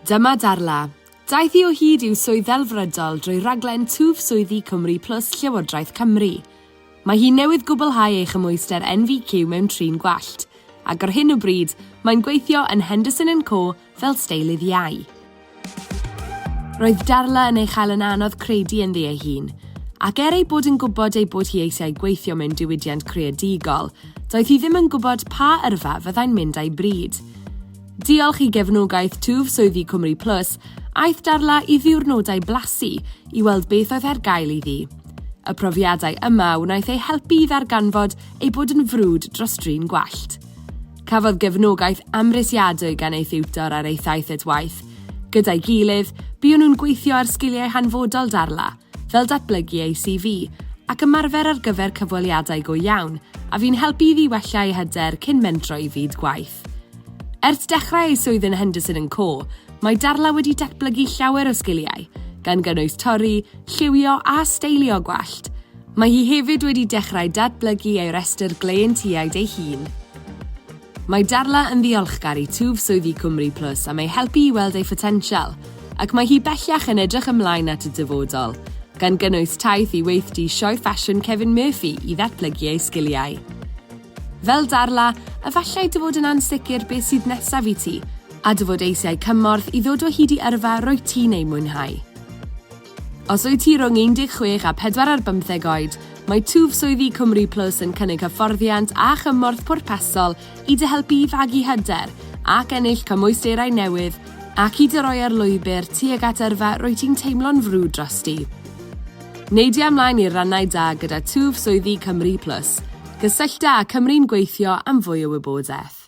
Dyma Darla. Daeth hi o hyd i'w swydd ddelfrydol drwy raglen Twf Swyddi Cymru Plus Llywodraeth Cymru. Mae hi newydd gwblhau ei chymhwyster NVQ mewn trin gwallt, ac ar hyn o bryd mae'n gweithio yn Henderson and Co fel steilydd iau. Roedd Darla yn ei chael yn anodd credu ynddi ei hun, ac er ei bod yn gwybod ei bod hi eisiau gweithio mewn diwydiant creadigol, doedd hi ddim yn gwybod pa yrfa fyddai'n mynd â'i bryd. Diolch i gefnogaeth twf swyddi Cymru Plus, aeth Darla i ddiwrnodau blasu i weld beth oedd ar gael iddi. Y profiadau yma wnaeth ei helpu i ddarganfod ei bod yn frwd dros drin gwallt. Cafodd gefnogaeth amhrisiadwy gan ei thiwtor ar ei thaith at waith. Gyda'i gilydd, buon nhw'n gweithio ar sgiliau hanfodol Darla, fel datblygu ei CV, ac ymarfer ar gyfer cyfweliadau go iawn, a fu'n helpu iddi wella ei hyder cyn mentro i fyd gwaith. Ers dechrau ei swydd yn Henderson and Co, mae Darla wedi datblygu llawer o sgiliau, gan gynnwys torri, lliwio a steilio gwallt. Mae hi hefyd wedi dechrau datblygu ei restr gleientiaid ei hun. Mae Darla yn ddiolchgar i twf swyddi Cwmri Plus am ei helpu i weld ei photensial, ac mae hi bellach yn edrych ymlaen at y dyfodol, gan gynnwys taith i weithdy Sioe Ffasiwn Kevin Murphy i ddatblygu ei sgiliau. Fel Darla, efallai dy fod yn ansicr beth sydd nesaf i ti, a dy fod eisiau cymorth i ddod o hyd i yrfa rwyt ti'n ei mwynhau. Os wyt ti rhwng 16 a 4 ar bymtheg oed, mae twf swyddi Cymru Plus yn cynnig hyfforddiant a chymorth pwrpasol i dy helpu i fagu hyder ac ennill cymwysterau newydd ac i dy roi ar lwybr tuag at yrfa rwyt ti'n teimlo'n frwd drosti. Neidia ymlaen i'r rannau da gyda twf swyddi Cymru Plus. Cysyllta â Cymru'n Gweithio am fwy o wybodaeth.